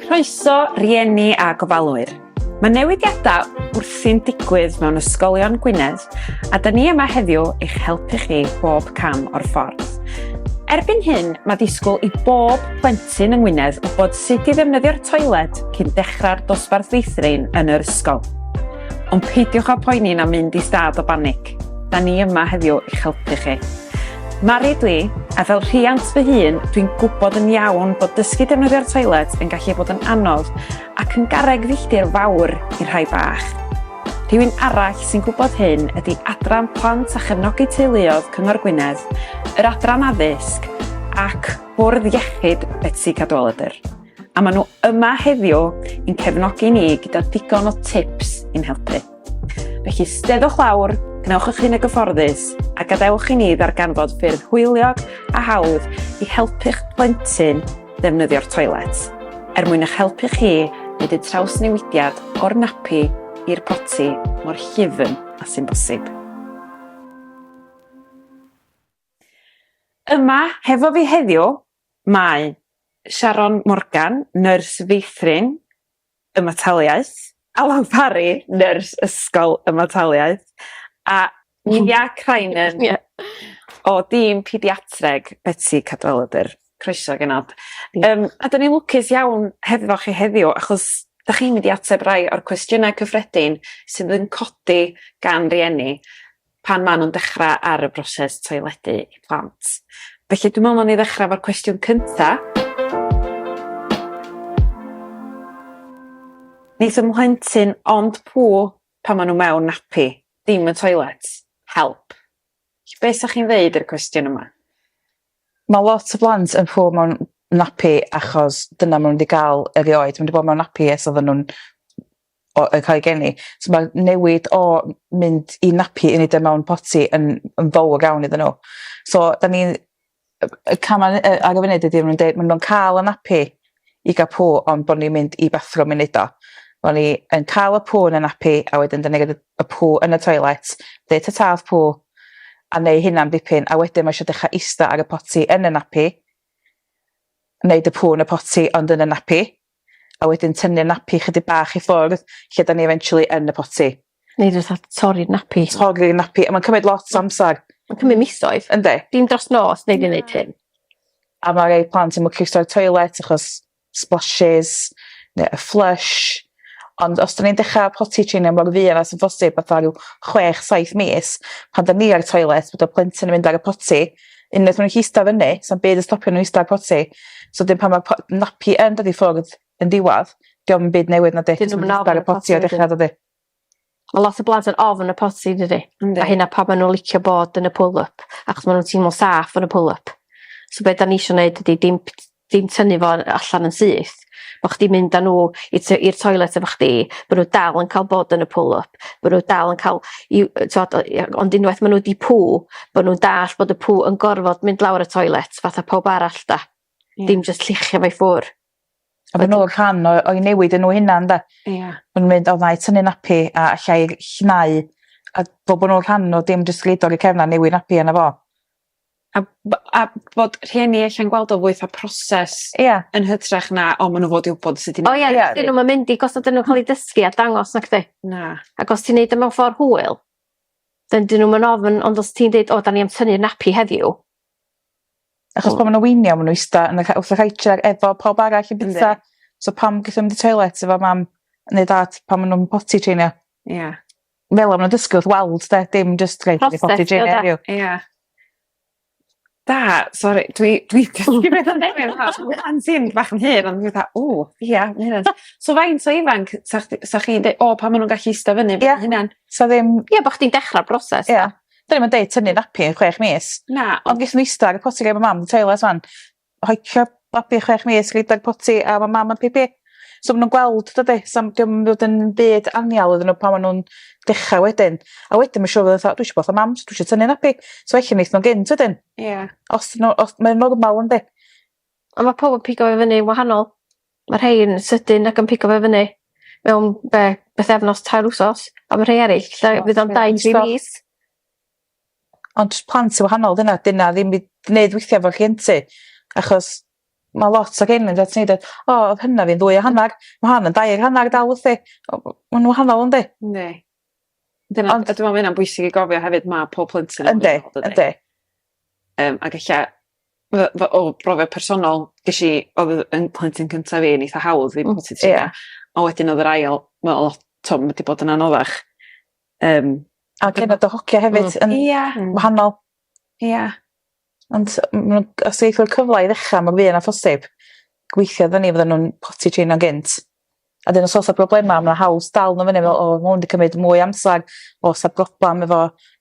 Croeso, rieni a gofalwyr. Mae newidiadau wrthi'n digwydd mewn ysgolion Gwynedd a da ni yma heddiw eich helpu chi bob cam o'r ffordd. Erbyn hyn, mae disgwyl i bob plentyn yng Ngwynedd wybod sut i ddefnyddio'r toiled cyn dechrau'r dosbarth feithrin yn yr ysgol. Ond peidiwch â poeni na mynd i stad o banig. Da ni yma heddiw i'ch helpu chi. Mari dwi, a fel rhiant fy hun, dwi'n gwybod yn iawn bod dysgu defnyddio'r toilet yn gallu bod yn anodd ac yn garreg filltir fawr i rhai bach. Rhywun arall sy'n gwybod hyn ydy Adran Plant a Chefnogi Teuluodd Cyngor Gwynedd, yr Adran Addysg ac Bwrdd Iechyd Betsi Cadwaladr. a maen nhw yma heddiw yn cefnogi ni gyda digon o tips i'n helpu. Felly steddwch lawr, gwnewch eich hun y gyfforddus a gadewch i ni ddarganfod ffyrdd hwyliog a hawdd i helpu'ch plentyn ddefnyddio'r toilet, er mwyn eich helpu chi wneud y trawsnewidiad o'r napi i'r poti mor llyfn a sy'n bosib. Yma, hefo fi heddiw, Mae Sharon Morgan, Nyrs Feithrin, Ymataliaeth, Alan Parry, Nyrs Ysgol, Ymataliaeth, a Nia Crinan o dîm Pediatreg Betsi Cadwaladr. Croeso genod. Yym a 'dyn ni'n lwcus iawn hefo chi heddiw achos 'dach chi'n mynd i ateb rai o'r cwestiyne cyffredin sydd yn codi gan rieni. pan maen nhw'n dechrau ar y broses toiledu i plant. Felly dwi'n meddwl ni ddechrau efo'r cwestiwn cyntaf. Neith y mhlentyn ond pŵ pan maen nhw mewn napi, dim y toilet. Help. Be' sa chi'n ddeud i'r cwestiwn yma? Mae lot o blant yn pŵ mewn napi achos dyna ma' n'w 'di ga'l erioed ma' n'w 'di bod mewn napi ers oddan nw'n o yn ca'l 'u geni so ma'r newid o m- mynd i nappy i neud e mewn potty yn yn fowr iawn iddyn n'w so 'dan ni'n yy y cama' ne- yy ar y funud ydi ma' nw'n deu' ma' nw'n ca'l y nappy i ga'l pŵ ond bo' ni'n mynd i bathrwm i neud o. Bo' ni yn ca'l y pŵ yn y nappy a wedyn 'dan ni roid y y pŵ yn y toilet deu' tata wrth pŵ a neu' hynna'n dipyn a wedyn ma' isio dechra ista ar y potty yn y nappy neud y pŵ yn y potty ond yn y nappy. a wedyn tynnu'r napi chydig bach i ffwrdd lle 'dan ni eventually yn y poti. Neu jys fatha torri'r napi. Torri'r napi a ma'n cymryd lot o amsar. Ma'n cymryd misoedd. Yndi. Dim dros nos nei di neud hyn. A ma' rei plant yn mwcus troi toilet achos splashes ne' y flush ond os 'dan ni'n dechra potty trainio mor fuan â sy'n bosib fatha ryw chwech saith mis pan 'dan ni ar y toilet bod y plentyn yn mynd ar y potty unwaith ma' nw'n gallu ista fyny sa'm byd yn stopio n'w ista ar potty so 'dyn pan ma' po- nappy yn dod i ffwrdd yn diwadd 'di o'm byd newydd na 'di? Dyn nw'm yn ofn y potty wedyn. Ma' lot o blant yn ofn y potty dydi? Yndi. A hynna pam ma' n'w licio bod yn y pool up achos ma' nw'n teimlo'n saff yn y pool up. So be' 'dan ni isio neud ydi dim ddim tynnu fo yy allan yn syth bo' chdi mynd â n'w i tŷ i'r toilet efo chdi bo' n'w dal yn ca'l bod yn y pull up bo' n'w dal yn ca'l i'w yy t'od o ia ond unwaith ma' n'w 'di poo bo' nw'n dall' bod y poo yn gorfod mynd lawr y toilet fatha powb arall 'da? Ia. Dim jyst lluchio fo i ffwr'. A ma' n'w yn rhan o o'u newid a n'w hunan 'de? Ia. Ma' nw'n mynd o 'nai tynnu nappy a allai ll- llnau a fel bo' nw'n rhan o dim jyst roid o ar 'u cefn a newid nappy arno fo. A by- a bod rhieni e'lla'n gweld o fath a proses... Ia. ...yn hytrach na o ma' n'w fod i wbod sut i... O ia ia. 'Dyn nw'm yn mynd i gos 'dyn nw'n ca'l 'u dysgu a dangos nacdi? Na. Ac os ti'n neud e mewn ffor hwyl 'dyn 'dyn nw'm yn ofn ond os ti'n deud o 'dan ni am tynnu nappy heddiw achos pan ma' 'na weenia ma' n'w ista yn y ca- wrth y couch a efo pawb arall yn byta so pam geith o mynd i toilet efo mam neu dad pan ma' nw'n potty trainio. Ia. Fel o'n nw'n dysgu wrth weld 'de dim jyst rhoi reportu gin heddiw. Ia. Da sori dwi dwi pan ti'n bach yn hŷn o'n i fatha o ia ma' hynna'n... So faint o ifanc sa chdi sa chi'n deu- o pan ma' nw'n gallu ista fynny fy hunan? Sa ddim... Ia bo' chdi'n dechra'r broses 'de? Ia. 'Dyn ni'm yn deud tynnu nappy yn chwech mis. Na. Ond ges i ista ar y potty gyda mam yn toilet 'wan hocio babi chwech mis i gydol potty a ma' mam yn pipi. So ma' nw'n gweld dydi? Sa'm 'di o'm fod yn byd anial iddyn n'w pan ma' nw'n dechra wedyn. A wedyn ma' siŵr fod o fatha dwi isio bod 'tha mam so dwi isio tynnu nappy. So ella neith nw'n gynt wedyn. Ia. Os 'dyn n'w os mae normal yndi? On' ma' powb yn pigo fo fyny'n wahanol. Ma' rhei yn sydyn ac yn pigo fe fyny mewn be'? Bythefnos tair wsos a ma' rhei eryll lle fydd o'n dau tri mis. Ond jys plant sy wahanol 'di hynna 'di wnna ddim by- gneud withia efo rhienti achos ma' lot o rheini'n jys neud e o odd hyna fi'n ddwy a hannar ma' hon yn dair hannar dal wthi. O w- ma' n'w wahanol yndi? Yndi. Dyna... Ond... ...a dwi me'wl ma' ynna'n bwysig i gofio hefyd ma' pob plentyn yn wahanol dydi? Yndi yndi. Yym ag ella fy- fy- o brofiad personol gesh i odd yy 'yn plentyn cynta fi yn eitha hawdd fi... Hmm ie. ...a wedyn odd yr ail mewn lot t'o' ma' 'di bod yn anoddach. Yym. A cefna dy hogia hefyd yn... Ia. ...yn wahanol. Ia. Ond m- ma' nw'n os neith fo'r cyfla i ddechra mor fuan â phosib gweithio arno ni fyddan nw'n potty traino gynt a 'dyn os o's 'a broblema ma' 'na hawl dal n'w fyny fel o ma' 'wn 'di cymyd mwy o amsar o's 'a broblam efo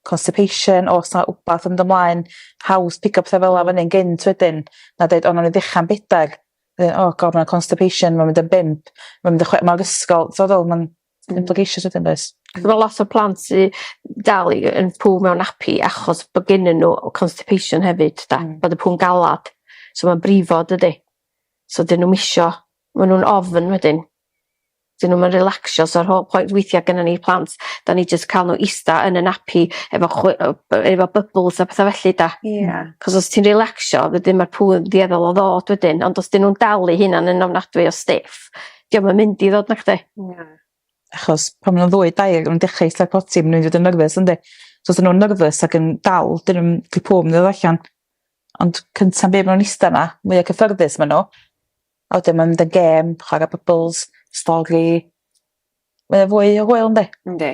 constipation o's 'na wbath yn dy mlaen haws pigo petha fel 'a fyny'n gynt wedyn na deud o nawn ni ddecha'n bedag wedyn o god ma' 'na constipation ma'n mynd yn bump ma'n mynd yn chwe- ma'r ysgol t'od fel ma'n Ti'n mynd pleidleisio wedyn does? Ma' lot o plant sy dal i yn pŵ mewn nappy achos bo' gennyn n'w o constipation hefyd 'da. Hmm. Bod y pŵ'n galad. So ma'n brifo dydi? So 'dyn nw'm isio ma' nw'n ofn wedyn. 'Dyn nw'm yn relacsio so rho- point weithia' gynnon ni plant 'dan ni jyst ca'l n'w ista yn y nappy efo chwy- yy b- efo bybls a petha felly 'da? Ia. 'C'os os ti'n relacsio wedyn ma'r pŵ yn dueddol o ddod wedyn ond os 'dyn nw'n dalu hunan yn ofnadwy o stiff 'dio'm yn mynd i ddod nachdi? Na. Achos pan ma' nw'n ddwy dair o'n nw'n dechra eitha potty ma' n'w mynd i fod yn nerfys yndi? So os 'dyn nw'n nyrfys ac yn dal 'dyn nw'm 'di pŵ myn' i ddod allan. Ond cynta be' ma' nw'n ista 'na mwya cyffyrddus ma' n'w a wedyn ma' mynd yn gêm chwara bybls stori. Mae o fwy o hwyl yndi? Yndi.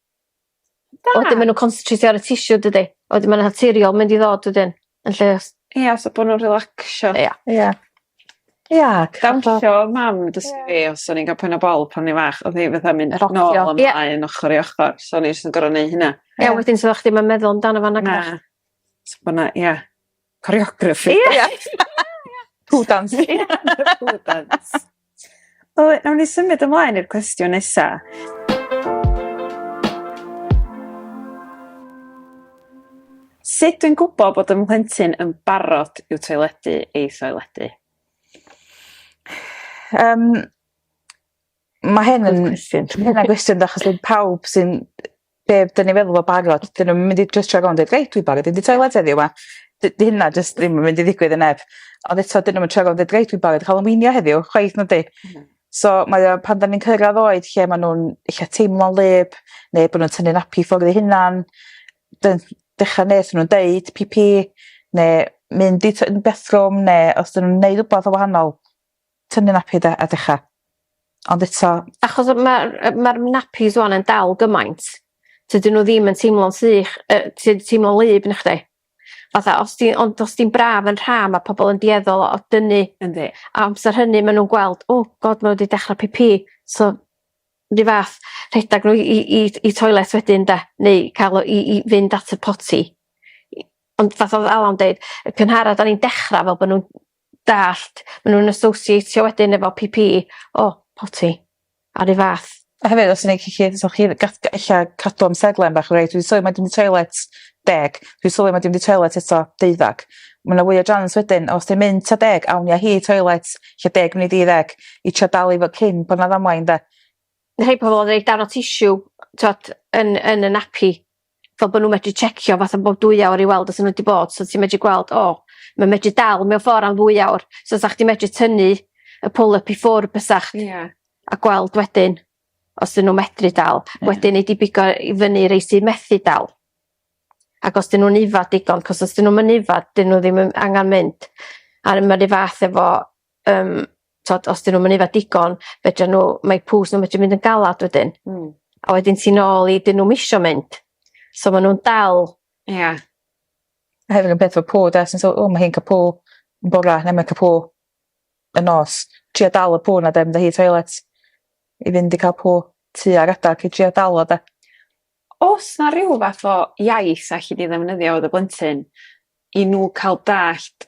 Da! Wedyn ma' n'w constitreitio ar y tissue dydi? A wedyn ma' 'na naturiol mynd i ddod wedyn yn lle os... Ia so bo' nw'n relacsio. Ia. Ia. Ia c-... Dawnsio o'dd mam yn dysgu fi os o'n i'n ga'l poen a bol pan o'n i'n fach o'dd 'i fatha mynd nôl a mlaen... Ia. ...yn ochor i ochor so o'n i jys yn gor'o' neu' hynna. Ia wedyn so o'ch chdi 'im yn meddwl amdano fo nagoch? Na. So bo' 'na ia. Choreography. Ie. Ie. Pŵl dans. Ie. Pŵl dans. Wel, nawn ni symud ymlaen i'r cwestiwn nesa. Sut dwi'n gwybod bod ym mhlentyn yn barod i'w toiledu ei thoiledu? Um, mae hyn yn... Cwestiwn. Mae hyn yn gwestiwn, achos pawb sy'n be' 'dyn ni feddwl fo barod 'dyn nw'm yn mynd i jys troi rownd deud reit dwi barod i fynd i toiled heddiw 'ma. Dy- 'di hynna jyst ddim yn mynd i ddigwydd i neb. Ond eto 'dyn nw'm yn troi rownd deud reit dwi barod i ca'l 'yn weanio heddiw chwaith na 'di? Na. So mae o pan 'dan ni'n cyrradd oed lle ma' nw'n ella teimlo'n wlyb ne' bo' nw'n tynnu napi ffwr eu hunan dyn- dechra nes ma' nw'n deud pî pî ne' mynd i tŷ- yn bathroom ne' os 'dyn nw'n neud wbath yn wahanol Tynnu napi de a decha. Ond eto... Achos ma'r yy ma'r napis ŵan yn dal gymaint tydyn n'w ddim yn teimlo'n sych yy ti teimlo'n wlyb nachdi? Fatha os di ond os di'n braf yn rha ma' pobol yn dueddol o dynnu. Yndi. A amser hynny ma' nw'n gweld o God ma' n'w 'di dechra pî pî so 'run fath rhedag n'w i i i i toilet wedyn 'de neu ca'l o i i fynd at y potty. I- ond fatha o'dd Ala'n deud y cynhara 'dan ni'n dechra fel bo' nw'n dallt ma' nw'n associatio wedyn efo Pee Pee o potty a 'run fath. A hefyd os neu' chi cyd so chi dd- gath gy- ella cadw amserlen bach reit dwi sylwi ma' 'di mynd i toilet deg dwi sylwi ma' 'di mynd i toilet eto deuddag. Ma' 'na fwy o jians wedyn os di'n mynd ta deg awn ni â hi i toilet lle deg munud i ddeg i trio dal i fo- cyn bo' 'na ddamwain 'de? Ma' rhei pobol yn roi darn o tissue t'od yn yn y nappy fel bo' n'w medru checio fatha bob dwy awr i weld os o' n'w 'di bod so ti medru gweld o ma' medru dal mewn ffor am ddwy awr so 'sach chdi medru tynnu y pull up i ffwr' bysach? Ia. A gweld wedyn os 'dyn n'w medru dal. Ia. Wedyn nei di bigo i fyny rei sy methu dal. Ag os 'dyn nw'n yfad digon 'c'os os 'dyn nw'm yn yfad 'dyn n'w ddim yn angan mynd. A ma' 'ru' fath efo yym t'od os 'dyn nw'm yn yfed digon fedran n'w mae pŵs n'w medru mynd yn galad wedyn. Hmm. A wedyn ti nôl i 'dyn nw'm isio mynd. So ma' nw'n dal. Ia. A hefyd yn peth efo pŵ 'de so o ma' hi'n ca'l pŵ yn bora ne' ma'n ca'l pŵ y nos. Tria dal y pŵ 'na 'de mynd â hi i toilet i fynd i ca'l pŵ tua'r adag i dria dal o 'de? O's 'na ryw fath o iaith 'sa elli di ddefnyddio efo dy blentyn i n'w ca'l dallt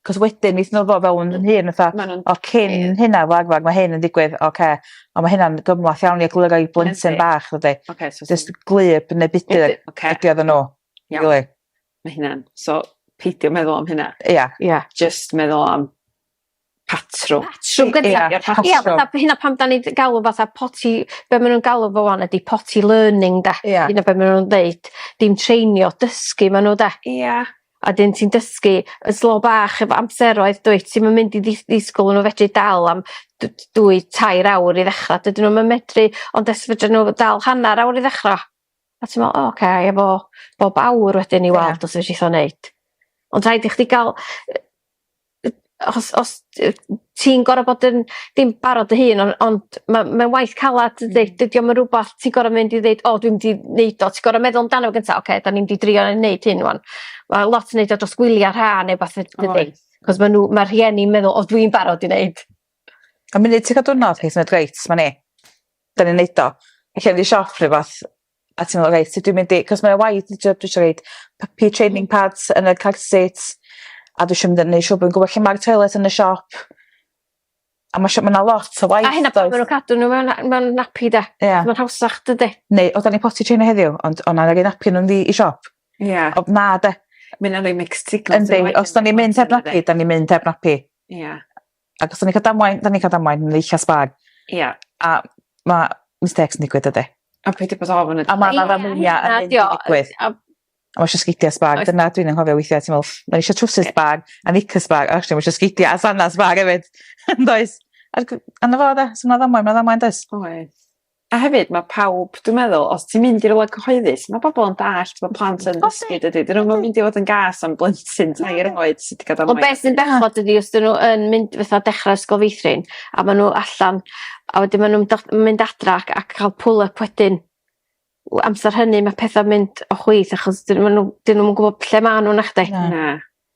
'C'os wedyn neith n'w ddod fewn yn hŷn fatha... Ma' nw'n... ...o cyn hynna wag wag ma' hyn yn digwydd oce on' ma' hynna'n gymlath iawn i egluro i blentyn bach dydi? Oce so... Jyst gwlyb ne' budur... Budur oce. ...ydi o iddyn n'w. Iawn. Rili. Ma' hynna'n... So peidio meddwl am hynna. Ia. Ia. Jyst meddwl am patrwm. Patrwm gynta. Ia ia patrwm. Ia fatha by' hynna pam 'dan ni d- galw fatha potty be' ma' nw'n galw fo ŵan ydi potty learning 'de? Ia. Dyna be' ma' nw'n ddeud dim treinio dysgu ma' n'w 'de? Ia. A 'dyn ti'n dysgu yn slo bach efo amseroedd dwyt ti'm yn mynd i ddis- ddisgwl i n'w fedru dal am d- d- dwy tair awr i ddechra dydyn nw'm yn medru ond os fedra n'w dal hannar awr i ddechra a ti me'wl o oce efo bob awr wedyn i weld os fedrith o neud. Ond rhaid i chdi ga'l yy yy os os yy ti'n gor'o' bod yn dim barod dy hun on' ond ma' mae'n waith calad dydi? Dydi o'm yn rwbath ti gor'o' mynd i ddeud o dwi mynd i neud o ti gor'o' meddwl amdano fo gynta oce 'dan ni mynd i drio neud hyn rŵan. Ma' lot yn neud o dros gwylia ha ne' wbath fyd- dydi? Oes. 'C'os ma' n'w ma' rhieni'n meddwl o dwi'n barod i neud. A munud ti ca'l diwrnod reit ma' 'na 'dan ni'n neud o. Ella mynd i siop ne' rwbath a ti'n me'wl reit sut dwi mynd i 'c'os mae o waith dwi isio roid puppy training pads yn y car seat a dwi isio mynd yn neu' siŵr bo' fi'n gwbo lle ma'r toilets yn y siop a ma' siŵ- ma' 'na lot o waith does? A hynna pan ma' nw'n cadw n'w mewn a- mewn nappy 'de? Ia. Ma'n hawsach dydi? Neu o 'dan ni potty trainer heddiw ond o 'nai roi nappy arnyn n'w i i siop. Ia. Ond na 'de? Ma' ynna'n roi mixed signals... Yndi os 'dan ni'n mynd heb nappy 'dan ni'n mynd heb nappy. Ia. Ac os o'n i'n cael damwain, da ni'n cael damwain yn eich sbag. Ia. A ma' mistakes yn digwydd dydi? A peidio bod ofn y... A ma' 'na ddamweiniau yn mynd i ddigwydd. A a ma' isio sgidia sbag dyna dwi'n anghofio weithia' ti me'wl ma' isio trowsus sbag a knickers sbag a actually ma' isio sgidia a sandals sbag efyd yndoes? Ac on' 'na fo 'de? So ma' ddamwain ma' ddamwain does? Oes. A hefyd ma' pawb dwi'n meddwl os ti'n mynd i rwla cyhoeddus ma' bobol yn dallt ma' plant yn dysgu dydi? 'Dyn nw'm yn mynd i fod yn gas am blentyn tair oed sy 'di gadal nai... Ond be' sy'n bechod ydi os 'dyn n'w yn mynd fatha dechra ysgol feithrin a ma' n'w allan a wedyn ma' nw'n do- yn mynd adra ac a ca'l pull up wedyn w- amser hynny ma' petha'n mynd o chwith achos 'dyn ma' n'w 'dyn nw'm yn gwbo lle ma' n'w nachdi? Na.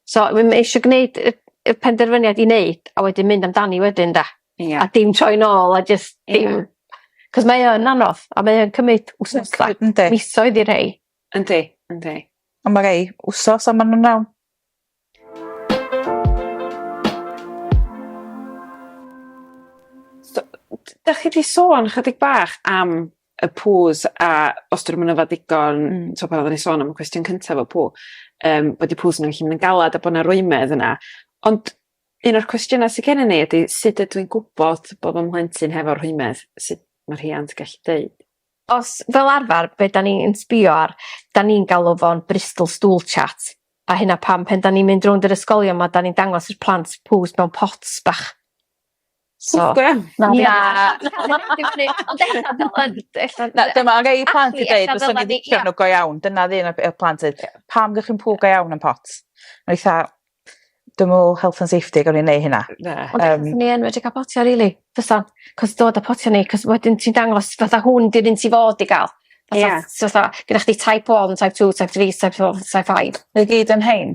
So m- ma' isio gneud y y penderfyniad i neud a wedyn mynd amdani wedyn 'da? Ia. A dim troi nôl a jyst dim... Ia. 'C'os mae o yn anodd a mae o'n cymyd wsnosa... Yndi. ...misoedd i rhei. Yndi yndi. On' ma' rei wsos a ma' nw'n iawn. So 'dach chi 'di sôn chydig bach am y pŵs a os 'dyn nw'm yn yfed digon... Hmm. ...t'o' pan oddan ni sôn am y cwestiwn cynta efo pŵ yym bod 'u pŵs n'w gallu myn' yn galad a bo' 'na rwymedd yna ond un o'r cwestiyna sy gennyn ni ydi sud ydw i'n gwbod bo' fy mhlentyn hefo rhwymedd sut ma' rhiant gallu deud? Os fel arfar be' 'dan ni'n sbïo ar 'dan ni'n galw fo'n Bristol stool chart a hynna pam pan 'dan ni'n mynd rownd yr ysgolion 'ma 'dan ni'n dangos i'r plant pŵs mewn pots bach. So... Cŵl go iawn. Na fi... Ond e'lla fel yn e'lla... Na dyma rei plant yn deud fyswn i licio n'w go iawn dyna un o'r peth plant deud pam 'dych chi'n pŵ go iawn yn pot? O'n i 'tha dwi me'wl health and safety gawn ni neu' hynna. Na. Ond e'lla swn i yn medru ca'l potia rili fysan 'c'os dod â potia ni 'c'os wedyn ti'n dangos fatha hwn 'di'r un ti fod i ga'l. Ia. Fatha so fatha gyda chdi type one type two type three type four type five. Ma' n'w gyd yn rhein?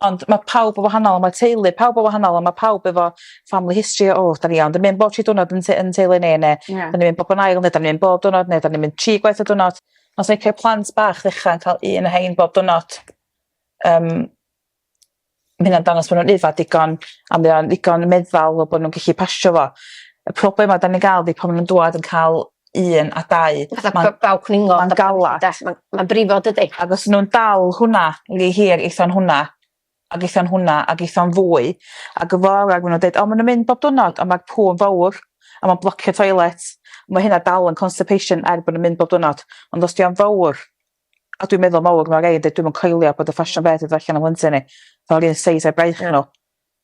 Ond ma' pawb yn wahanol a ma' teulu pawb yn wahanol a ma' pawb efo family history o o 'dan ni iawn 'dan ni mynd bob tri diwrnod yn tŷ yn teulu ni ne'... Ie. ...'dan ni mynd bob yn ail ne' 'dan ni mynd bob diwrnod ne' 'dan ni mynd tri gwaith y diwrnod. Ond sa licio'r plant bach ddechra yn ca'l un o rhein bob diwrnod yym ma' hynna'n dangos bo' nw'n yfed digon a mae o'n ddigon meddal fel bo' nw'n gellu pasio fo. Y problema 'dan ni'n ga'l 'di pan ma' nw'n dŵad yn ca'l 1 a 2. Fatha ma' baw cwningod... Ma'n galas. ...'de ma'n ma'n brifo dydi? Ag os nw'n dal hwnna rhy hir eitho'n hwnna ag eitho'n hwnna ag eitho'n fwy ag y fora ma' nw'n deud o ma' nw'n mynd bob dwrnod on' ma'r pŵ'n fowr a ma'n blocio toilet ma' hynna dal yn constipation er bo' nw'n mynd bob dwrnod ond os 'di o'n fowr a dwi'n meddwl mowr ma' rei yn deud dwi'm yn coelio bod y ffasiwn beth i fod allan o mhlentyn i fel ry'n seis a'i braich n'w.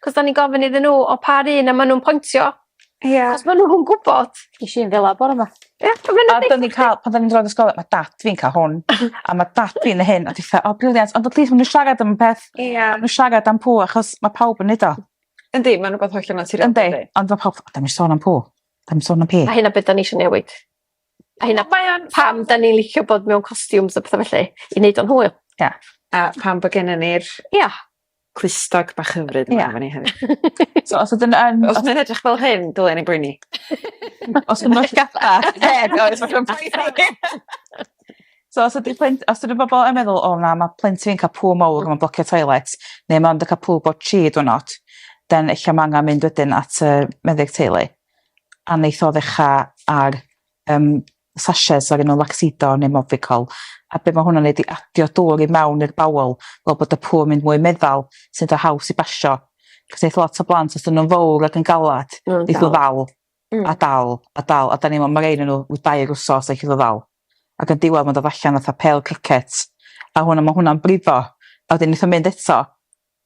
'C'os 'dan ni'n gofyn iddyn n'w o pa run a ma' nw'n pointio. Ia. 'C'os ma' nw'n gwbod. Gesh i un fel 'a bore 'ma. Ia a ma' 'na betha... A 'dyn ni ca'l pan 'dan ni'n droi yn y ysgol ma' dat fi'n ca'l hwn a ma' dat fi neu hyn a ti fatha o brilliant ond y plith ma' n'w siarad am y peth... Ia. ...ma' n'w siarad am pŵ achos ma' pawb yn neud o. Yndi ma'n rwbath hollol naturiol dydi? Yndi ond ma' pawb fatha 'dan ni'm sôn am pŵ. 'Dan ni'm sôn am pî. A hynna be' 'dan ni isio newid. A hynna... Mae o'n... ...pam 'dan ni licio bod mewn costumes a petha felly i neud o'n hwyl. Ia. A pam bo' gennon ni'r... Ia. clustog bach hyfryd yma efo ni hefyd. So os ydyn yn... Os mae'n edrych fel hyn, dylen ni boeni. Os ydyn nhw'n gada. So os ydy plent, os ydy bobl yn meddwl, o na, mae plentyn yn cael pŵl mawr, mae'n blocio toilet, neu mae'n cael pŵl bod chi dwrnod, then eich mae angen mynd wedyn at y meddyg teulu. A neith o ddechrau ar um, sachets ar un o Laxidol neu Movicol a be' ma' hwnna'n neud 'di adio dŵr i mewn i'r bowel fel bod y pŵer mynd mwy meddal sy'n do' haws i basio. Cos neith lot o blant os 'dyn nw'n fowr ac yn galad... Ma' nw'n dal. ...neith o ddal. Hmm. A dal a dal a 'dan ni me'wl ma' rei o'nyn n'w ryw dair wsos a gellu do' ddal. Ag yn diwadd ma'n dod allan fatha pêl cricet a hwnna ma' hwnna'n brifo a wedyn neith o mynd eto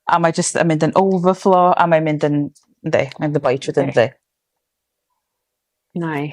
a mae jyst yn mynd yn overflow a mae'n mynd yn yndi mae'n dy boi trwyddo yndi? Mae.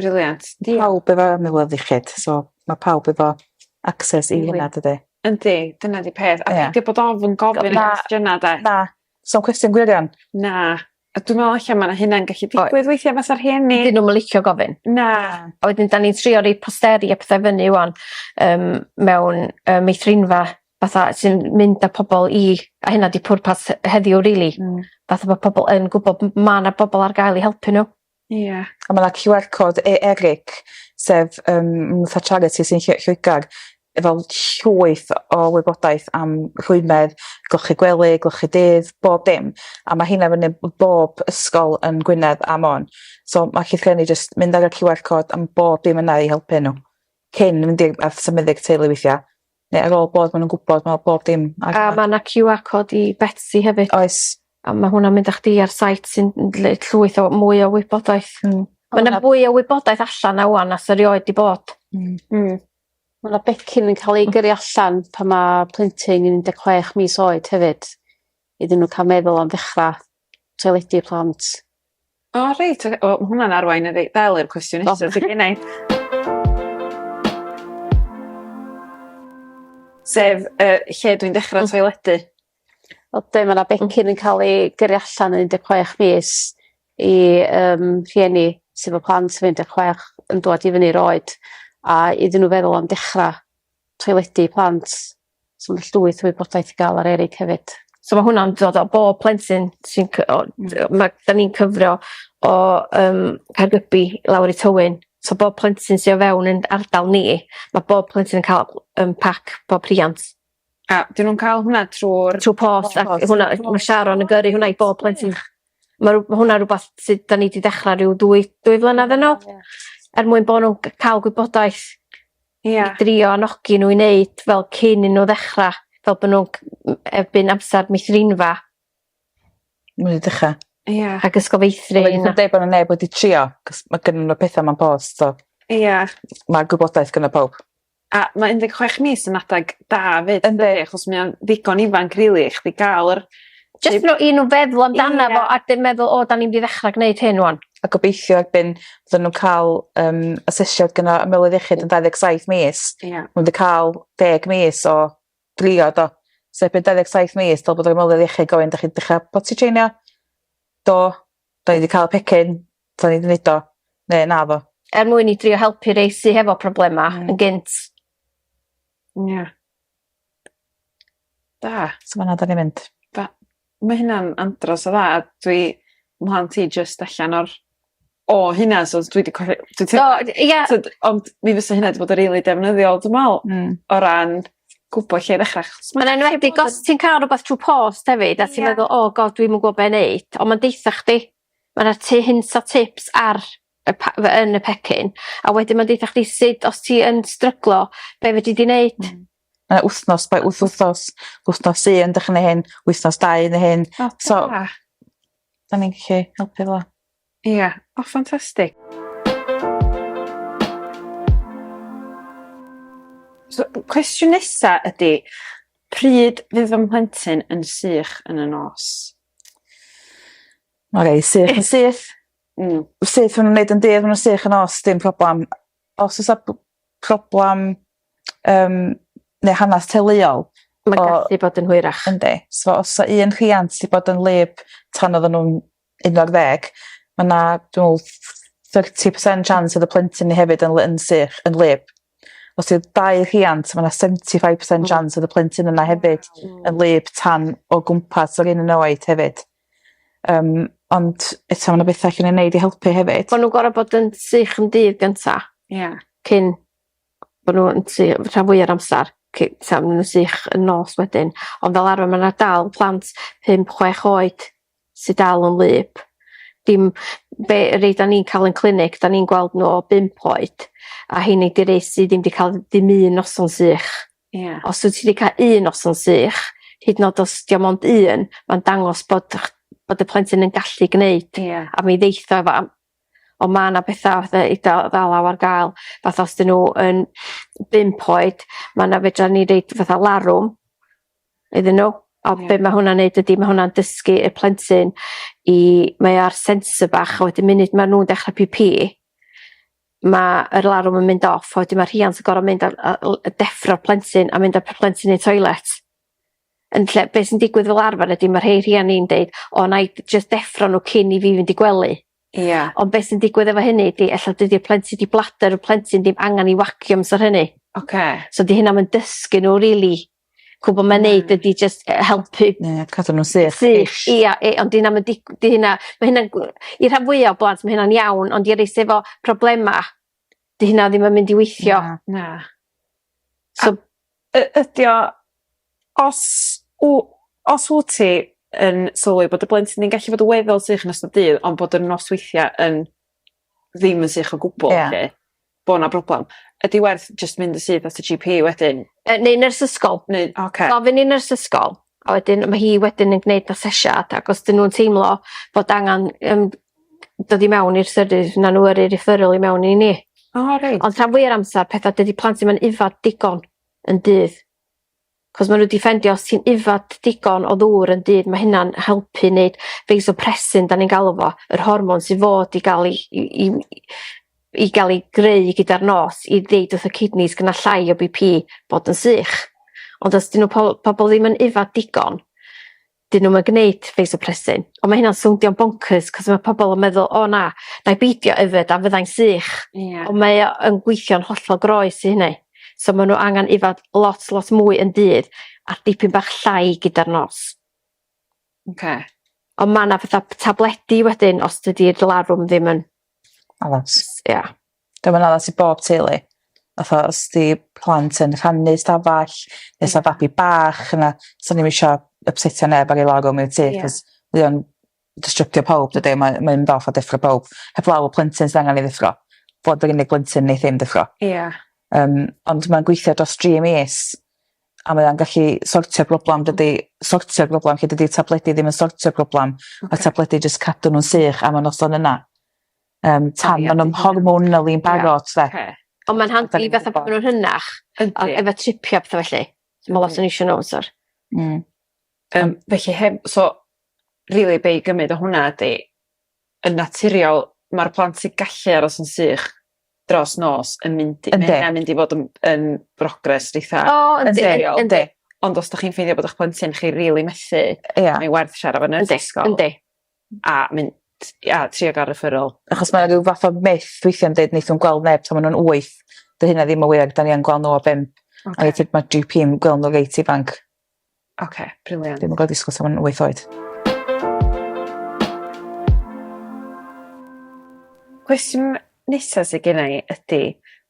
Brilliant. Diol-... Pawb efo amlwg ddiffyg so ma' pawb efo access i hynna dydi? Yndi dyna 'di peth a peidio bod ofn gofyn y cwestiyna 'de? Na. Sa'm cwestiwn gwirion. Na. A dwi me'wl ella ma' 'na hynna'n gallu digwydd weithia' fatha rhieni. 'Dyn nw'm yn licio gofyn. Na. A wedyn 'dan ni'n trio roi posteri a petha fyny ŵan yym mewn yy meithrinfa fatha sy'n mynd â pobol i a hynna 'di pwrpas heddiw rili. Hmm. Fatha ma' pobol yn gwbod m- ma' 'na bobol ar gael i helpu n'w. Ie. A ma' 'na Cue Are Code e- Eric sef yym m- fatha charity sy'n lle- Lloegar efo llwyth o wybodaeth am rhwymedd golchi gwely golchi dydd bob dim a ma' heina fyny b- bob ysgol yn Gwynedd a Môn so ma' allu rhieni jyst mynd ar y Cue Are Code a ma' bob dim yna i helpu n'w cyn mynd i'r ath symuddi'r teulu weithia Ne' ar ôl bod ma' nw'n gwbod ma' bob dim ar... A ma' 'na Queue Are Code i Betsi hefyd. Oes. A ma' hwnna'n mynd â chdi ar site sy'n n- lle llwyth o mwy o wybodaeth. Hmm. Ma' 'na fwy o wybodaeth allan 'na ŵan na sa rioed 'di bod. Hmm. Hmm. Ma' 'na becyn yn ca'l ei gyrru allan pan ma' plentyn yn un de' chwech mis oed hefyd iddyn n'w ca'l meddwl am ddechra toiledu plant. O reit oce wel ma' hwnna'n arwain yn rei- ddel i'r cwestiwn nesa sy gennai. Sef yy lle dwi'n dechra toiledu. O be' ma' 'na becyn yn ca'l 'i gyrru allan yn un deg chwech mis i yym rhieni sy 'fo plant sy un de' chwech yn dwad i fyny i'r oed a iddyn n'w feddwl am dechra toiledu plant So ma' 'na llwyth o wybodaeth i ga'l ar Eryg hefyd. So ma' hwnna'n dod o bob plentyn sy'n cy- o d- yy ma' 'dan ni'n cyfro o yym Caergybi i lawr i Tywyn so bob plentyn sy o fewn yn ardal ni ma' bob plentyn yn ca'l yym pac pob rhiant. A 'dyn nw'n ca'l hwnna trw'r... Trw post a hwnna yy ma' Sharon yn gyrru hwnna i bob plentyn. Ma' rw- ma' hwnna rwbath sy 'dan ni 'di dechra ryw dwy dwy flynadd yn ôl. Ie. Er mwyn bo' nw'n g- ca'l gwybodaeth. Ia. I drio anogi n'w i neud fel cyn i n'w ddechra fel bo' nw'n c- m- erbyn amsar meithrinfa. Ma' n'w 'di dechra. Ia. Rhag ysgol feithrin a... Wedyn deud bo' 'na neb wedi trio 'c'os ma' gynnyn n'w petha mewn post so... Ia. ...ma' gwybodaeth gynno powb. A ma' un deg chwech mis yn adeg da 'fyd. Yndi. ...dydi achos mae o'n ddigon ifanc rili i chdi ga'l yr... Jyst n'w i n'w feddwl amdano fo a dim meddwl o 'dan ni mynd i ddechra gneud hyn ŵan. a gobeithio erbyn fydden nw'n ca'l yym asesiad gynno ymyrwydd iechyd yn dau ddeg saith mis. Ia. Ma' n'w 'di ca'l deg mis o drio do? So erbyn dau ddeg saith mis dylai bod yr ymyrwydd iechyd gofyn 'dach chi 'di dechra potty trainio? Do. 'Dan ni 'di ca'l y pecyn. 'Dan ni 'di neud o. Ne' naddo. Er mwyn i drio helpu rei sy hefo problema... Hmm. ...yn gynt. Ia. Da. So fana 'dan ni mynd. Da. Ma' hynna'n andros o dda a dwi mhlant i jyst allan o'r o hynna so dwi 'di colli dwi teimlo... O dy- ia. ...t'od ond mi fysa hynna 'di bod yn rili defnyddiol dwi me'wl. Hmm. O ran gwbo lle i ddechra achos ma'... Ma'n enwedig os ti'n ca'l rwbath trw post hefyd... Ia. ...a ti'n meddwl o God dwi'm yn gwbo be' neud on' ma'n deutha chdi ma' 'na ty hint a tips ar y pa- fy- yn y pecyn a wedyn ma'n deutha chdi sud os ti yn stryglo be' fedri di neud. Hmm. Mae 'na wthnos by wth wthnos wthnos un dych ch'neu' hyn wythnos dau neu hyn. O da. So 'dan ni'n gallu helpu fel 'a. Ia. O ffantastig. So cwestiwn nesa ydi pryd fydd fy mhlentyn yn sych yn y nos? Oce sych yn syth. Hmm. Sut ma' nw'n neud yn deg ma' n'w sych yn os dim problam os o's 'a b- problam yym ne' hanas teuluol ma' gallu bod yn hwyrach. Yndi so os sa un rhiant 'di bod yn wlyb tan oddan nw'n un ar ddeg ma' 'na dw'wl thirty percent chance o'dd y plentyn 'ny hefyd yn ly- yn sych yn wlyb. Os yw dau rhiant, mae yna 75% chance oedd y plentyn yna hefyd yn wlyb tan o gwmpas yr un yn oed hefyd. Um, ond eto mae yna bethau allan ei wneud i helpu hefyd. Bod nhw'n gorau bod yn sych yn dydd gynta. Ie. Yeah. Cyn bod nhw'n sy- rhan fwy o'r amser cy- tra ma' nw'n sych yn nos wedyn. Ond fel arfer ma' 'na dal plant pump chwech oed sy dal yn wlyb. Dim be' rei 'da ni'n ca'l yn clinic 'da ni'n gweld n'w o bump oed a rheini 'di rei sy ddim 'di ca'l dim un noson sych. Ia. Os wt ti 'di ca' un noson sych hyd yn o'd os 'di o mond un ma'n dangos bod y'ch bod y plentyn yn gallu gneud. Ia. A mi ddeith o efo am- on' ma' 'na betha fatha eitha dalaw ar ga'l fatha os 'dyn n'w yn bump oed ma' 'na fedra ni deud fatha larwm iddyn n'w a be' ma' hwnna'n neud ydi ma' hwnna'n dysgu y plentyn i mae o ar sensor bach a wedyn munud ma' nw'n dechre pî pî ma' yr alarwm yn mynd off a wedyn ma' rhiant yn gor'o' mynd a a l- yy deffro'r plentyn a mynd â'r p- plentyn i'r toilet yn lle be' sy'n digwydd fel arfer ydi ma' rhei rhiani'n deud o nâi d- jyst deffro n'w cyn i fi fynd i gwely. Ia. Ond be' sy'n digwydd efo hynny ydi ella dydi'r plentyn 'di blader y plentyn ddim angan 'i wagio amsar hynny. Oce. So 'di hynna'm yn dysgu n'w rili Gwbo ma' neud ydi jyst yy helpu... Ie cadw n'w sych. ...sych ia yy ond 'di 'na'm yn dig- 'di hynna ma' hynna'n gw- i rhan fwya o blant ma' hynna'n iawn ond i rei sy efo problema 'di hynna ddim yn mynd i weithio. Na na. So... A y- ydi o os w- os wt ti yn sylwi bod dy blentyn yn gallu bod yn weddol sych yn ystod dydd ond bod y nosweithia yn ddim yn sych o gwbwl 'lly... Ia. bo' 'na broblem. Ydi werth jyst mynd yn syth at y Gee Pee wedyn? Yy neu nyrs ysgol. Neu oce. Gofyn i nyrs ysgol a wedyn ma' hi wedyn yn gneud asesiad ac os 'dyn nw'n teimlo fod angan yym dod i mewn i'r service fy' 'na n'w yrru referral i mewn i ni. O reit. Ond rhan fwya o'r amsar petha dydi plant 'im yn yfad digon yn dydd. 'c'os ma' n'w 'di ffeindio os ti'n yfed digon o ddŵr yn dydd ma' hynna'n helpu neud fasopressin 'dan ni'n galw fo yr hormon sy fod i ga'l 'i i i i ga'l 'i greu gyda'r nos i ddeud wrth y kidneys gynna' llai o Bee Pee bod yn sych ond os 'dyn n'w po- pobol ddim yn yfed digon 'dyn nhw'm yn gneud vasopressin ond ma' hynna'n sowndio boncyrs 'c'os ma' pobol yn meddwl o na 'nai beidio yfed a fyddai'n sych. Ia. On' mae o yn gweithio'n hollol groes i hynny. So ma' n'w angan yfed lot lot mwy yn dydd a dipyn bach llai gyda'r nos. Oce. On' ma' 'na fatha tabledi wedyn os dydi'r larwm ddim yn... Addas. ...ia. Dyma'n addas i bob teulu. Fatha os 'di plant yn rhannu stafall ne' sa babi bach yna swn i'm isio ypsetio neb ar ei lawr o mewn tŷ 'c'os fydd o'n distrybio pawb dydi a mae mae mynd off a deffro pawb. Heblaw y plentyn sydd angan ei ddeffro. Fo 'di'r unig blentyn neith ddim deffro. Ia. Yym ond ma'n gweithio dros dri mis a mae o'n gallu sortio broblam dydi sortio'r broblam lle dydi tabledi ddim yn sortio'r broblam. Oce. Ma'r tabledi jyst cadw nw'n sych am y noson yna. yym tan ma' nw'n hormonally yn barod 'de. Oce. Ond ma'n handi fatha pan ma' nw'n rhynnach. Yndi. A efo tripio a petha felly. So ma' lot o n'isio n'w amsar. Hmm. Yym felly heb so rili be' i gymyd o hwnna ydi yn naturiol ma'r plant sy gallu aros yn sych dros nos yn mynd i... Yndi. ...ma' hynna'n mynd i fod yn yn brogress eitha... O yndi yndi. ...ond os 'dach chi'n ffeindio bod 'ych plentyn chi rili methu... Ia. ...mae werth siarad efo nyrs ysgol. Yndi yndi. a mynd i a trio ga'l referral. Achos ma' 'na ryw fath o myth weithia'n deud neith nw'n gweld neb tan ma' nw'n wyth. 'Di hynna ddim yn wir 'dan ni yn gwel' n'w o bump. Oce. A weithie ma' Gee Pee yn gwel' n'w reit ifanc. Oce brilliant. Dwi'm yn gwel disgwl tan ma' nw'n wyth oed. Cwestiwn nesa sy genna i ydi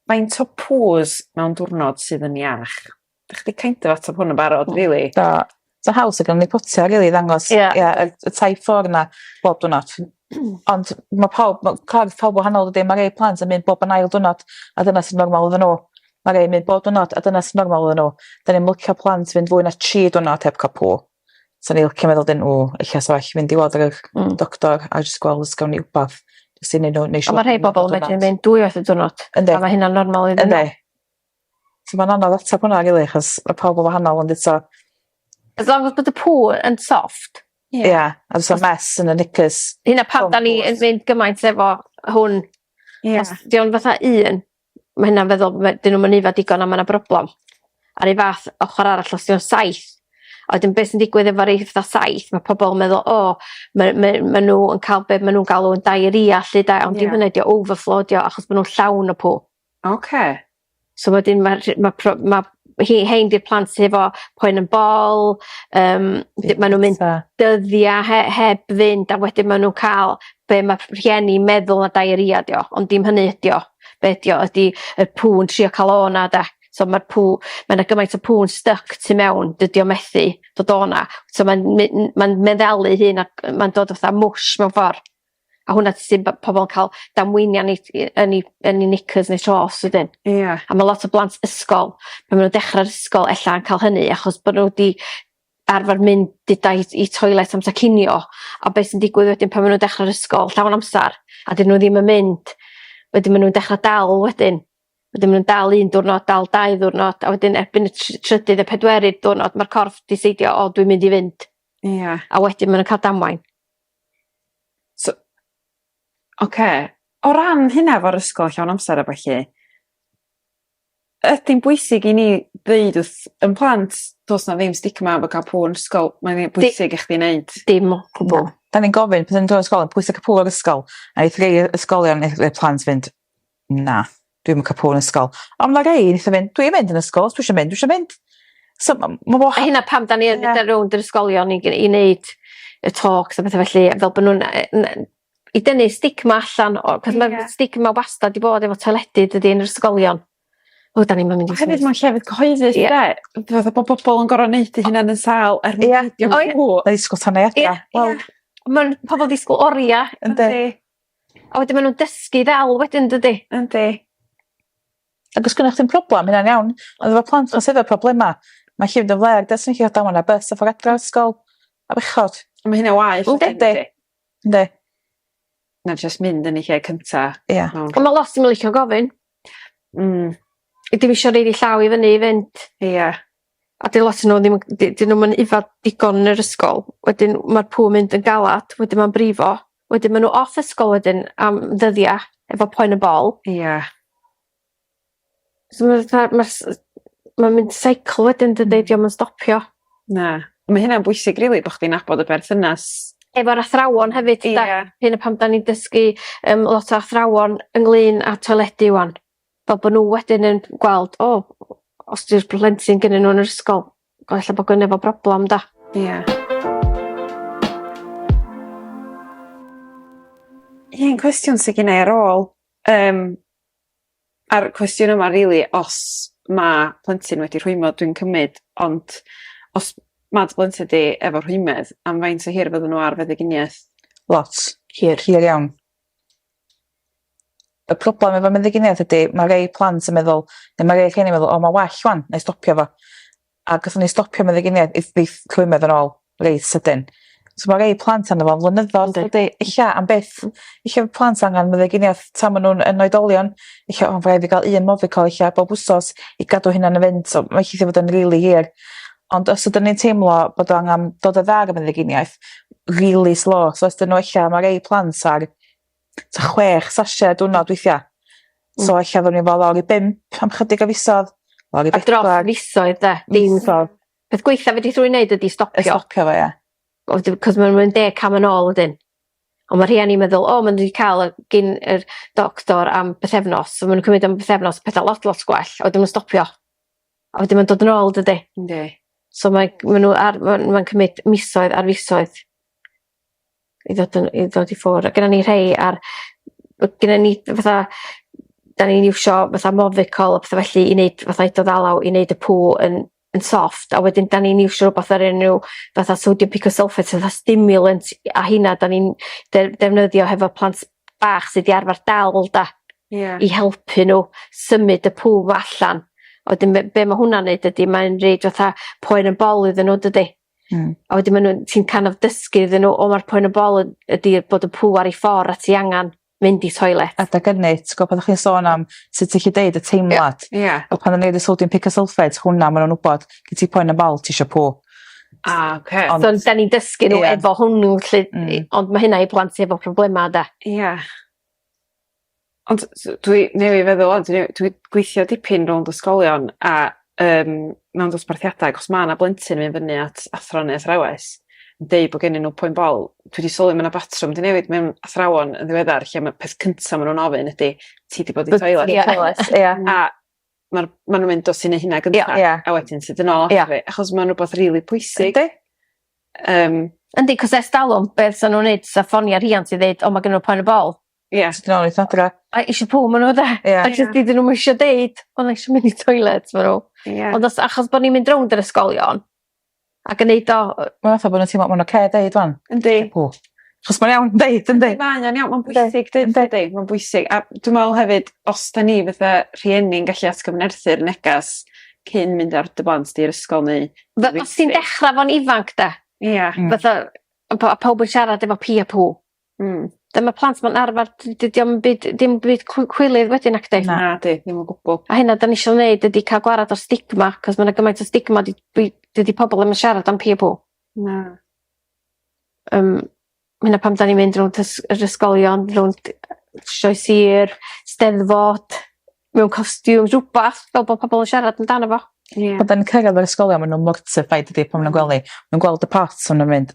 faint o poos mewn diwrnod sydd yn iach? Dych chi kind of ateb hwn yn barod, really. Do. So haws o gymryd potia, really, i ddangos... Ie. ...ie y y taith ffor 'na bob dwrnod. Ond ma' pawb ma' corff pawb wahanol dydi? Ma' rei plant yn mynd bob yn ail dwrnod a dyna sy'n normal iddyn n'w. Ma' rei yn mynd bob dwrnod a dyna sy normal iddyn n'w. 'Dyn ni'm licio plant fynd fwy na tri dwrnod heb cwpwl. Sa ni licio meddwl 'dyn o ella sa well mynd i weld yr yr... Hmm. ...doctor a jyst gweld os gawn ni wbath jyst i neud n'w neu' siŵr... On' ma' rhei bobol yn medru mynd dwy waith y diwrnod. Yndi. A ma' hynna'n normal iddyn n'w. Yndi. So ma'n anodd atab hwnna rili achos ma' pawb yn wahanol ond eto As long as bod y pŵer yn soft. Ie. Ia a do's 'na'm mess yn y knickers. Dyna pam 'dan ni yn mynd gymaint efo hwn. Ia. Os 'di o'n fatha un ma' hynna'n feddwl ma' 'dyn nw'm yn aeddfed digon a ma' 'na broblem. A'r un fath ochor arall os 'di o'n saith a wedyn be' sy'n digwydd efo rei fatha saith ma' pobol yn meddwl o ma' ma' ma' n'w yn ca'l be' ma' nw'n galw yn diarrhea 'lly 'de ond dim hynna 'di o overflow 'di o achos ma' nw'n llawn o pŵ. Oce. So wedyn ma' rh- ma' pro- ma' hi rhein 'di'r plant sy efo poen yn bol yym d- ma' nw'n mynd dyddia' he- heb fynd a wedyn ma' nw'n ca'l be' ma' rh- rhieni'n meddwl ma' diarrhea 'di o ond dim hynny ydi o be' 'di o ydi y pŵ'n trio ca'l o 'na 'de so ma'r pŵ ma' 'na gymaint o pŵ'n styc tu mewn dydi o methu dod o 'na so ma'n my- n- ma'n meddalu'i hun ac yy ma'n dod fatha mwsh mewn ffor. A hwnna t- sy'n b- pobol yn ca'l damweiniau neu t- yy yn 'u yn 'u knickers neu shorts wedyn. Ia. A ma' lot o blant ysgol pan ma' nw'n dechra'r ysgol e'lla yn ca'l hynny achos bo' n'w 'di arfar mynd deda i i toilet amser cinio a be' sy'n digwydd wedyn pan ma' nw'n dechra'r ysgol llawn amsar a 'dyn n'w ddim yn mynd wedyn ma' nw'n dechra dal wedyn wedyn ma' nw'n dal un diwrnod dal dau ddiwrnod a wedyn erbyn y tr- trydydd y pedwerydd diwrnod ma'r corff 'di seidio o dwi'n mynd i fynd. Ia. A wedyn ma' nw'n ca'l damwain. So oce o ran hynna efo'r ysgol llawn amser a ballu ydi'n bwysig i ni ddeud wrth 'yn plant do's 'na ddim stigma efo ca'l pŵer yn ysgol mae'n un pwysig i chdi neud. Dim o gwbwl. 'Dan ni'n gofyn pan 'yn ni dod o ysgol pwyso cipŵr ysgol a'i threi ysgolion neith y plant fynd Na. Dwi'm yn ca' pob yn ysgol. On' ma' rei nitho fynd dwi mynd yn ysgol os dwi isio mynd dwi isio mynd. So ma' ma' wahân... A hynna pam 'dan ni yn mynd ar rownd yr ysgolion i g'neud i neud y talks a petha felly yy fel bo' nw'n yy n- yy i dynnu stigma allan o 'c'os ma'r stigma wastad 'di bod efo teledu dydi yn yr ysgolion. O 'dan ni'm yn mynd i... A hefyd ma'n llefydd cyhoeddus 'de? Dwi fatha bo' bobol yn gor'o' neud 'u hunan yn sâl er mwyn peidio mynd i sgŵ- yy i sgwtahau adra. Ia ia. Wel ma'n pobol disgwl oria. Yndi. A wedyn ma' nw'n dysgu ddel wedyn dydi? Yndi. Ag os gynnoch chdi'm problem hynna'n iawn ond efo plant 'ma sy efo problema ma' lli fynd yn flêr does na'm lle damon ar bys a ffor adra o ysgol a bechod. A ma' hynna waeth wedyn dydi? Yndi. Yndi. Na jyst mynd yn y lle cynta. Ia. Mewn... On' ma' lot ddim yn licio gofyn. Hmm. I dim isio rili llaw i fyny i fynd. Ia. a dyw lot o n'w ddim yn d- 'dyn nw'm yn yfed digon yn yr ysgol wedyn ma'r pŵer mynd yn galad wedyn ma'n brifo wedyn ma' n'w off ysgol wedyn am ddyddia' efo poen y bol. Ia. So ma' fatha ma' s- ma'n mynd seiclo wedyn dydi 'di o'm yn stopio. Na. Ma' hynna'n bwysig rili bo' chdi'n nabod y berthynas... Efo'r athrawon hefyd 'de? Ia. Hynna pam 'dan ni'n dysgu yym lot o athrawon ynglŷn â toiledi ŵan. fel bo' n'w wedyn yn gweld o os 'di'r plentyn gynnyn n'w yn yr ysgol o ella bo' gynno fo broblam 'da? Ia. Un cwestiwn sy gennai ar ôl yym a'r cwestiwn yma rili os ma' plentyn wedi rhwymo dwi'n cymyd ond os ma' dy blentyn di efo rhwymedd am faint o hir fydden n'w ar feddyginiaeth? Lot. Hir. Hir iawn. Y problem efo meddyginiaeth ydi ma' rei plant yn meddwl ne' ma' rei rhieni meddwl o ma' well ŵan 'nai stopio fo. A gethon ni stopio meddyginiaeth if if rhwymedd yn ôl reit sydyn. So ma' rei plant arno fo'n flynyddol dydi? Ella am byth. Ella fo' plant angan meddyginieth tan ma' nw'n yn oedolion ella o ma' rhaid fi ga'l un Movicol ella bob wsos i gadw hynna'n y fynt so mae ll- 'di fod yn rili hir. Ond os ydyn ni'n teimlo bod o angan dod o dda ar y meddyginiaeth rili slo so os 'dyn n'w ella ma' rei plant ar ta chwech sasio diwrnod weithiau. Mm. So ella fod ni'n fod lawr i bimp am chydig o fisodd. Lawr i bedwar. A dros fisoedd de. Dim ffordd. Peth gweitha fe di thrwy'n neud ydi stopio. Y stopio fo ia. Cos mae'n mynd deg cam yn ôl ydyn. Ond mae rhieni'n meddwl, o, maen nhw wedi cael gyn yr doctor am bythefnos. So maen nhw'n cymryd am bythefnos pethau lot, lot gwell. A wedyn nhw'n stopio. A wedyn maen dod yn ôl, dydy? Ynddi. So mae, maen nhw ar, maen, maen cymryd misoedd ar fisoedd. i ddod yn i ddod i ffwr' a gynnon ni rhei ar by- gynnon ni yy fatha 'dan ni'n iwsio fatha Movicol a petha felly i neud fatha i dy ddalaw i neud y pŵ yn yn soft a wedyn 'dan ni'n iwsio rwbath o'r enw fatha sodium picosulphate fatha stimulant i- a rheina 'dan ni'n de- defnyddio hefo plant bach sy 'di arfar dal 'da. Ia. I helpu n'w symud y pŵ 'ma allan a wedyn be' be' ma' hwnna'n neud ydi mae'n roid fatha poen yn bol iddyn n'w dydi? Hmm. A wedyn ma' nw'n ti'n kind of dysgu iddyn n'w o ma'r poen y bol y- ydi bod y pŵer i ffwr' a ti angan mynd i toilet. Adeg ynny t'go' pan o'ch chi'n sôn am sut ti 'llu deud y teimlad. Ie ie. A pan o'n i neud y sodium picosulphate hwnna ma' nw'n wbod gin ti poen y bol tisio pŵ. A oce. Ond... So 'dan ni'n dysgu n'w efo hwnnw 'lly... Hmm. ...i ond ma' hynna i blant sy efo problema 'de? Ia. Ond s- s- dwi newy' feddwl ŵan dwi newy- dwi gweithio dipyn rownd ysgolion a yym mewn dosbarthiadau 'c'os ma' 'na blentyn yn myn' fyny at athro ne' athrawes yn deu' bo' gennyn n'w poen bol dwi 'di sylwi ma' 'na batrwm 'di newid mewn athrawon yn ddiweddar lle ma' peth cynta ma' nw'n ofyn ydi ti 'di bod i toiled? Ti 'di bod i toiled? Ia. A ma'r ma' nw'n mynd o ti neu' hynna gynta. Ia ia. A wedyn sydyn nôl ato fi. Ia. Achos ma'n rwbath rili pwysig. Yndi. Yym. Yndi 'c'os e's dalwm be' sa nw'n neud sa ffonia rhiant i ddeud o ma' gynno n'w poen y bol. Ia. Ti dal weitho adra. A isio pw ma' n'w 'de? Ia. A jys 'dyn nw'm isio deud o ma' isio mynd i toilet ma' n'w... Ia. ...ond os achos bo' ni'n mynd rownd yr ysgolion a gneud o yy... Ma' fatha bo' nw'n teimlo ma'n oce deud ŵan. Yndi. Isio pŵ. 'Chos mae'n iawn deud yndi? Mae o'n iawn ma'n bwysig deud dydi? Ma'n bwysig a dwi me'wl hefyd os 'dan ni fatha rhieni'n gallu atgyfnerthu'r negas cyn mynd ar dy blant di i'r ysgol neu... Fe- os ti'n dechra 'fo'n ifanc 'de? Ia. Hmm. Fatha on' po- a pawb yn siarad efo pï a pŵ. Hmm. Dy- ma' plant 'ma'n arfar dy- dydi o'm byd dim byd cw- cwilydd wedyn nacdi? Nadi ddim o gwbwl. A hynna 'dan ni isio neud ydi ca'l gwarad o'r stigma 'c'os ma' 'na gymaint o stigma 'di dwi dydi pobol ddim yn siarad am piggyback pool. Na. Yym ma' hynna pam 'dan ni'n mynd rownd ys- yr ysgolion rownd yy sioe sir 'Steddfod mewn costiwm rwbath fel bo' pobol yn siarad amdano fo. Ie. Pan 'dan ni'n cyrradd yr ysgolion ma' n'w mortified dydi pan ma' nw'n gwel' ni. Nw'n gweld y pot a ma' nw'n mynd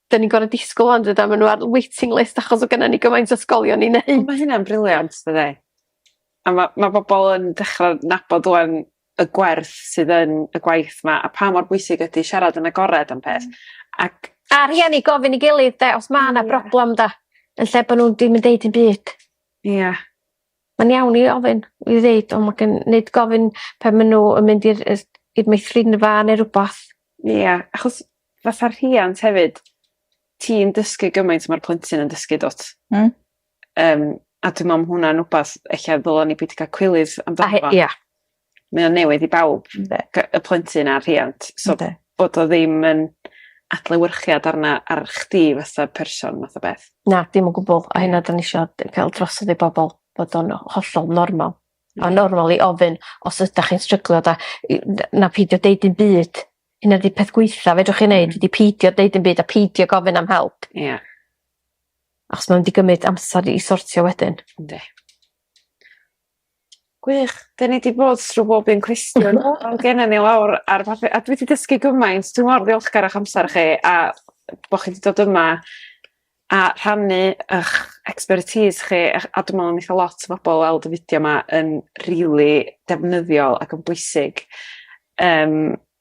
'dyn ni'n gorod disgwl ŵan dydan ma' n'w ar waiting list achos o' gynno ni gymaint o ysgolion i neud. O ma' hynna'n brilliant dydi? A ma' ma' bobol yn dechra nabod ŵan y gwerth sydd yn y gwaith 'ma a pa mor bwysig ydi siarad yn agored am peth ac... A rhieni gofyn i gilydd 'de os ma' 'na broblem 'da yn lle bo' nw'n dim yn deud dim byd. Ia. Mae'n iawn i ofyn i ddeud on' ma' gyn- nid gofyn pan ma' n'w yn mynd i'r yy i'r meithrinfa ne' rwbath. Ia achos fatha rhiant hefyd ti'n dysgu gymaint ma'r plentyn yn dysgu dw't? Hmm. Yym a dwi me'wl ma' hwnna'n wbath ella ddyla ni beidio ca'l cwilydd amdano fo. A he- ia. mae o'n newydd i bawb... Yndi. ...gy- y plentyn a'r rhiant so... Yndi. ...bod o ddim yn adlewyrchiad arna ar chdi fatha person math o beth. Na dim o gwbwl a hynna 'dan ni isio d- ca'l drosodd i bobol bod o'n hollol normal. A normal i ofyn os ydach chi'n stryglo 'da i- n- na peidio deud dim byd. Hynna 'di peth gwaetha fedrwch chi neud ydi peidio deud dim byd a peidio gofyn am help. Ia. Achos ma' mynd i gymyd amser i sortio wedyn. Yndi. Gwych. 'Dyn ni 'di bod thrw bob un cwestiwn. Do. Odd gennon ni lawr ar fath- a dwi 'di dysgu gymaint dwi mor ddiolchgar o'ch amser chi a bo' chi 'di dod yma a rhannu 'ych expertise chi a ch- a dwi me'wl neith o lot o bobol weld y fideo 'ma yn rili defnyddiol ac yn bwysig yym